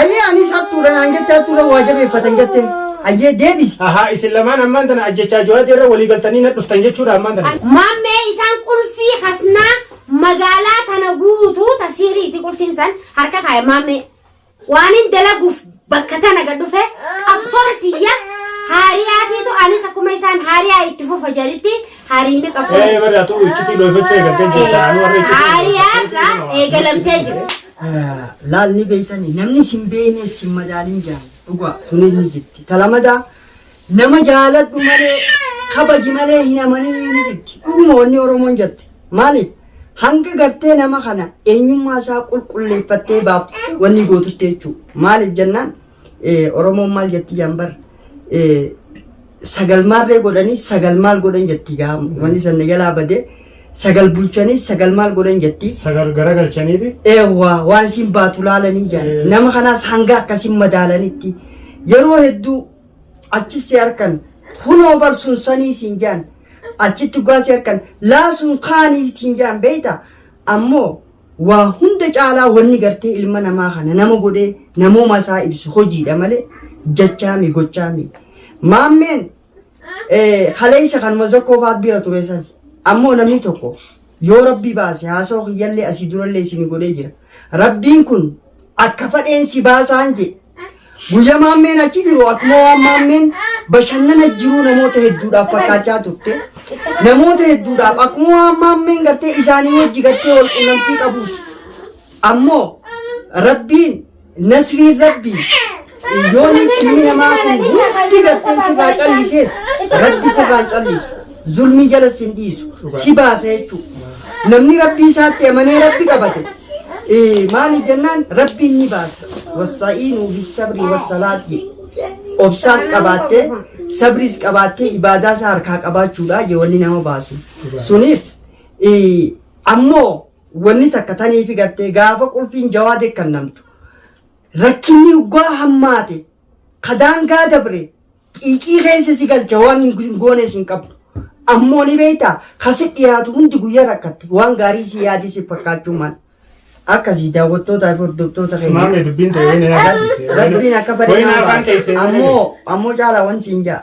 Ayii anis hattuudha naan jette hattuudha waa jabeeffatan jette hayyee deebisi. Ahaa isin lamaan ammaan tana ajjechaa Juwaadii irra walii galtanii na dhuftan jechuudha ammaan tana. Mammee isaan qulfii hasnaa magaalaa tana guutuu ta sihriiti qulfiin san harka kaaya mammee. Waanin dalaguuf bakka tana gad dhufe qabsoon tiyya haariyaatiitu anis akkuma isaan haariyaa itti fufa jedhitti haariini qabsoon. Ee barraa tuu iccitii dhoofachuu eegaltee jirta. Anu warra iccitii. Haariyaarraa eegalamtee jirti. laal ni beeytanii namni sin beeyne sin madaalin jaan dhugaa sunis ni jirti talamada nama jaaladhu malee kabaji malee hin amanin ni jirti dhuguma wanni oromoon jette maaliif hanga gartee nama kana eenyummaa isaa qulqulleeffattee baaf wanni gootutti jechuu maaliif jennaan Oromoon maal jettii jaan bar sagal maarree godhanii sagal maal godhan jettii gaa wanni sanna jalaa badee sagal bulchanii sagal maal godhan jettii. Sagal garagalchaniiti. Eewwaa waan isin baatu laalanii jaan Eh. nama kanaas hanga akkasin madaalanitti yeroo hedduu achi si harkan kunoo bar sun sanii siin jaan achitti dhugaa si harkan laa sun kaanii siin jaan beeyta ammoo Waa hunda caalaa wanni gartee ilma namaa kana nama godhee namooma isaa ibsu hojiidha malee jachaami gochaami. Maammeen eh, kaleessa kanuma zokkoo faat bira ture san ammoo namni tokko yoo rabbii baase haasoo kiyyallee asii durallee isin godhee jira. Rabbiin kun akka fadheen si baasaan jedhe. Guyyaa maammeen achi jiru akkuma waan maammeen bashannana jiruu namoota hedduudhaaf fakkaachaa turte. Namoota hedduudhaaf akkuma waan maammeen gartee isaanii wajji gartee wal qunnamtii qabus. Ammoo rabbiin nasriin rabbii Yoon ilmi namaa kun hundi gartee sirraa callisees rabbi sirraan callisu zulmii jala sin dhiisu si baasa jechuudha. Namni rabbii isaatti amanee rabbi qabate eh, maali jennaan rabbiin ni baasa. Wasta'iinuu fi sabrii wassalaati. Obsaas qabaattee sabriis qabaattee ibaadaa isaa harkaa qabaachuudha jee wanni nama baasu. Suniif eh, ammoo wanni takka taniifi gartee gaafa qulfiin jawaade kan namtu. Rakkinni hoggaa hammaate, ka daangaa dabre, xiiqii keessa si galcha, waan hin goones hin qabdu. Ammoo ni beektaa, ka si dhiyaatu hundi guyyaa rakkatte, waan gaarii si yaadee si fakkaachuu mala. Akkasii daawwattootaa fi hordoftoota keenya. Maamee dubbiin ta'e wayina Rabbiin akka fedhe Wayina afaan keessee. ammoo ammoo caalaa wan siin ja'a.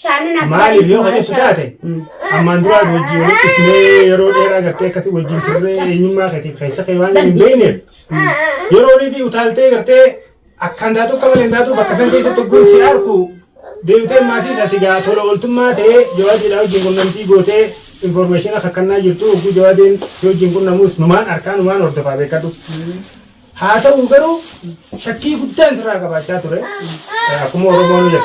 Shaanina Maaliif yoo hojjetu taate ammaan duraan wajjin walitti dhufnee yeroo dheeraa gartee akkasii wajjin turree eenyummaa keetiif keessa kee waan hin beekneef yeroo rifi utaaltee gartee akkaan taatu akka malee hin taatu bakka san keessatti ogguun si arku deebitee maatii isaati gaa tola ooltummaa ta'ee jawaajiidhaa wajjin qunnamtii gootee infoormeeshina kakkannaa jirtu ogguu jawaajeen si wajjin qunnamuus numaan arkaa numaan hordofaa beekadhu. Haa ta'u garuu shakkii guddaan sirraa qabaachaa ture. Akkuma Oromoon jedhu.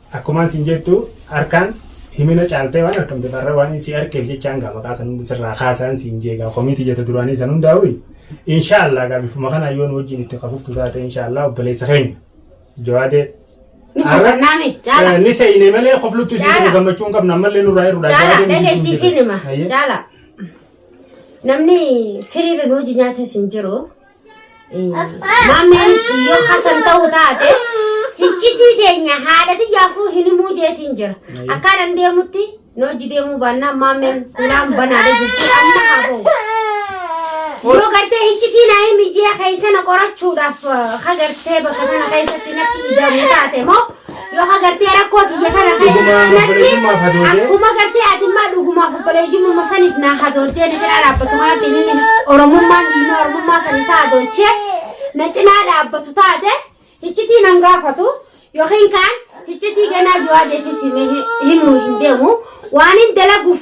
Akkumaan siin jettu harkaan himina caaltee waan arkamteef har'a waan si arkeef jechaan gaa maqaa san hundi sirraa kaasaan siin jeegaa komiitii jetta duraanii san hundaa'uyi. Inshaallah gaa bifuma kanaan yoo nu wajjin itti kafuftu taate inshaallah obboleessa keenya. Jawaadee. Nu hubannaame jaala. Ni se'ine malee kofluttu isin Jaala. qabu gammachuu hin qabnu ammallee nurraa hir'udha. Jaala Jawaadee nuti dhagaysii isin fi jirra. nima Ayyee. jaala. Namni firiirri nu hojii nyaate isin jiru. Maammeenis yoo Hasan ta'uu taate hiccitii teenya haadha tiyyaafuu hin himuu jeetiin jira. Akkaan an deemutti nooji deemuu baannaan maammeen hulaan banaadha jirti amma haa ba'u. Yoo gartee hiccitii naa himi jee keessa na qorachuudhaaf ha gartee bakka kana keessatti natti ida'amu taate moo Yoo hagartee rakkoo tiyya kana ta'e Dhuguma cinatti obboleeyyummaaf hadoodee. akkuma gartee ati immaa dhugumaaf obboleeyyummaa saniif naa hadoodee na cinaa dhaabbatu kanatti inni oromummaan dhiigni oromummaa san isaa hadoochee na cinaa dhaabbatu taate hiccitii nan gaafatu yookiin kaan hiccitii ganaa jiwaa deefis himuu hin deemu waan hin dalaguuf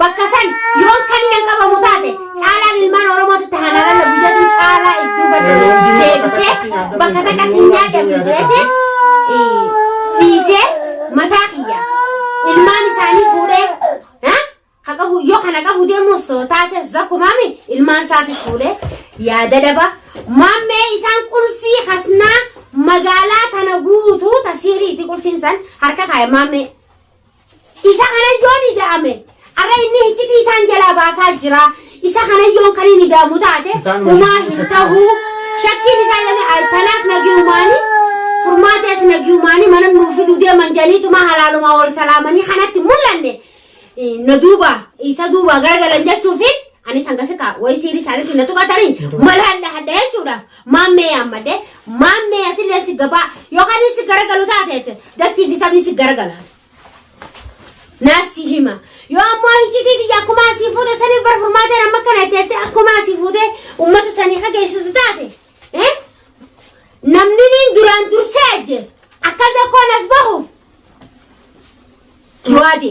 Bakka san yoon kan hin qabamu taate caalaan ilmaan Oromootti tahan alalla guyyatu caalaa if duuba deebisee bakka takkatti hin yaadamne jeete dhiisee mataa kiyya ilmaan isaanii fuudhee ha? ka qabu yoo kana qabu deemus taate zakkumaami ilmaan isaatis fuudhee yaada daba maammee isaan qulfii kasnaa magaalaa tana guutuu tasiiriiti qulfiin san harka kaaya maammee Isa kanan yoon ida'ame, arra inni hiccitii isaan jalaa baasaa jira. Isa kanan yoon kan hin ida'amu taate, Isaan wajjin umaa hin shakkaa. tahu. Shakkiin isaa ilame tanaas nagiyumaanii, furmaatees nagiyumaanii mana nuu fiduu deeman janiituma halaalumaa wal salaamanii kanatti mul'anne. Eh, Na duuba, isa duuba garagalan jechuufi anis hangasi kaa wayi siiri isaaniitti na tuqatanii malaan dhahadha jechuudha. Maammee yaammadhe, Maammee atillee si gabaa yookaan inni si garagalu taateette dachii fi sabni si garagala. Naas si hima. Yoo ammoo hiccitii tiyya akkuma asii fuute saniif bar furmaateen amma kana itti jettee akkuma asii fuutee uummata sanii dhageessisu taate. eh? Namni niin duraan dursee ajjeesu akkas akkoon as bahuuf. Jawaabi.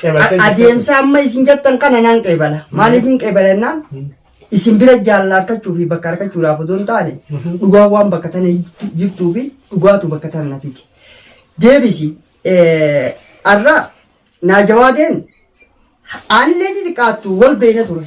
Qeebaltee jirtu. adeemsa amma isin jettan kana nan qeebala maaliif hin qeebala jennaan isin bira jaalala argachuu fi bakka argachuudhaaf otoo hin taane dhugaa waan bakka tana jirtuu fi dhugaatu bakka tana na fide deebisi eh, har'a naa jawaadeen aanillee xixiqqaattu wal beekna ture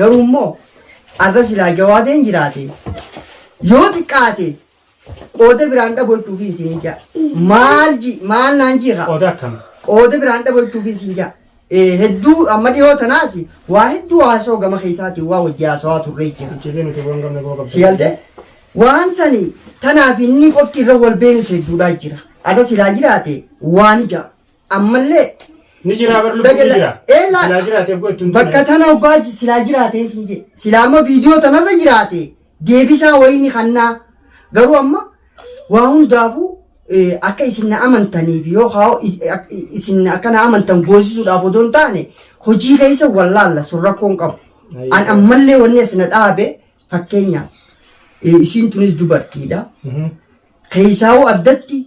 Garuu immoo arra silaa jawaadeen jiraate yoo xiqqaate qooda biraan dhabolchuufi isin ija maal ji maal naan jiira Qooda akkam? qooda biraan dhabolchuufi isin ija Eh, hedduu amma dhiyoo tanaas waa hedduu haasoo gama keessaatiin waa wajji haasawaa turree jira Icciitii nuti waan gamne boo qabda. si galte waan sani tanaaf inni qofti irra wal beenu hedduudhaa jira arra silaa jiraate waan ija Ammallee Ni jira bar lubbuun ni jira. Ee, laa- Silaa jiraate eeguu ittiin bakka tana obbaa ji- silaa jiraateen siin jedhe. Silaa amma viidiyoo tanarra jiraate deebisaa wayini kannaa. Garuu amma waa hundaafuu eh, akka isin na amantaniif yoo haa i- ak- i- isin akka na amantan goosisuudhaaf odoo hin taane hojii keessa wallaalla sun rakkoon qabu. Ayyee. An ammallee wanni asina dhaabe fakkeenyaaf eh, isiin tunis dubartiidha. Mhm. Keessaawuu addatti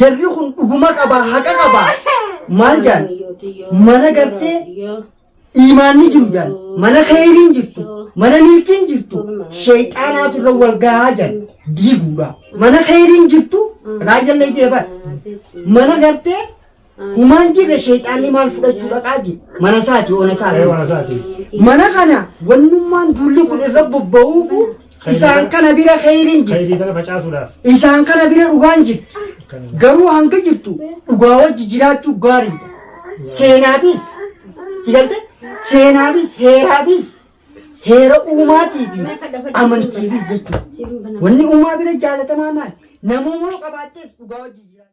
Jarri kun dhuguma qabaa haqa qabaa maal jaan mana gartee iimaanni jiru jaan mana kheyriin jirtu mana milkiin jirtu sheeyxaanaatu irra wal gahaa jaan diiguudha mana kheyriin jirtu raajjallee jeebar mana gartee Humaan jirre sheexaanni maal fudhachuu dhaqaa jira? Mana isaati, ona isaati. Ee, mana isaati. Mana kana wannummaan duulli kun irra bobba'uufu isaan kana bira kheyriin jirti. Khayrii tana facaasuudhaaf. Isaan kana bira dhugaan jirti. Garuu hanga jirtu dhugaa wajji jiraachuu gaariidha. Seenaafis, si galte? Seenaafis, heeraafis, heera uumaatii fi amantiifis jechuudha. Wanni uumaa bira jaalatamaa maali? Namoomoo qabaattees dhugaa wajji jiraachuu.